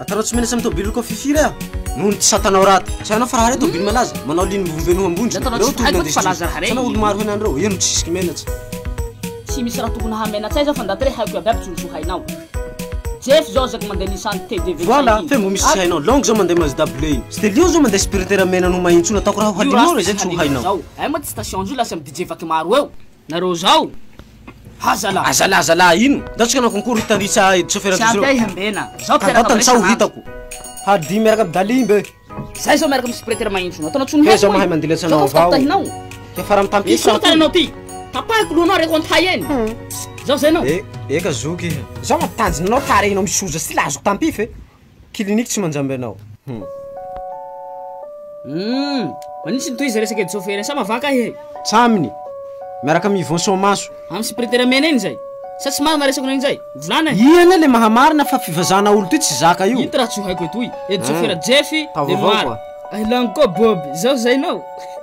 Atarao tsy menatra amin'ny tôbily loko fiffi re a! Noho ny tsy satanao raty. Tsy hainao fa raha re tôbily malaza, manao ligne mivobe noho ambondry, Atarao reo tsy tohina haiko fa ndeso laza raha re. Hitanao olo-maro hena an'ireo, eo no tsy zisiky menatra. Tsy misy raha tokony hahamenatsay zao fa ndaty re haiko iaby aby tsy ho zo hainao. Jeff zao ezaka mandeha Nissan TDV cinq Voilà, fe mbo misy tsy hainao. Long zao mandeha Mazda bleu iny. Stelio zao mandeha Sprinter mena noho mahintsona, ataoko raha ho Io hadinonao raha izay tsy ho hainao. Zao, hay moa tsy station zio lasy am DJ vaky maro eo. Nareo zao ha zala. A zala zala ino? Ndao tsika hanao concours hita ny tsa edy chauffeur Tsy ampy ahy hambena. Zao mpiaraka Kandao tany tsaho ho hitako. Hadi miaraka am Dali mbe. Zay zao miaraka am Spreter mahintsy no ataonao tsony heko. He zao mahay mandilatra anao avao. Ke faram tam pisa. Misy taranao ty. Tapahiko lohanao reko an hay eny. Zao zay nao. Eka zoky. Zao matanjina anao tarehinao misoza sy laziko tam pify. Clinique tsy manjamby anao hum. Humm manitsy ny tohiza resaka edy chauffeur sa mavaka ahy e. Tsa aminy miaraka am Yvon soamaso. Am superiteur mena iny zay. Sa tsy marina resako nao iny zay? Volana e. Ian le mahamarina fa fivazana olo ty tsy zaka io. Ito raha tsy ho haiko etoy. Edy chauffeur Jeffy de Noir. Ay laniko koa Bob, izao zay nao.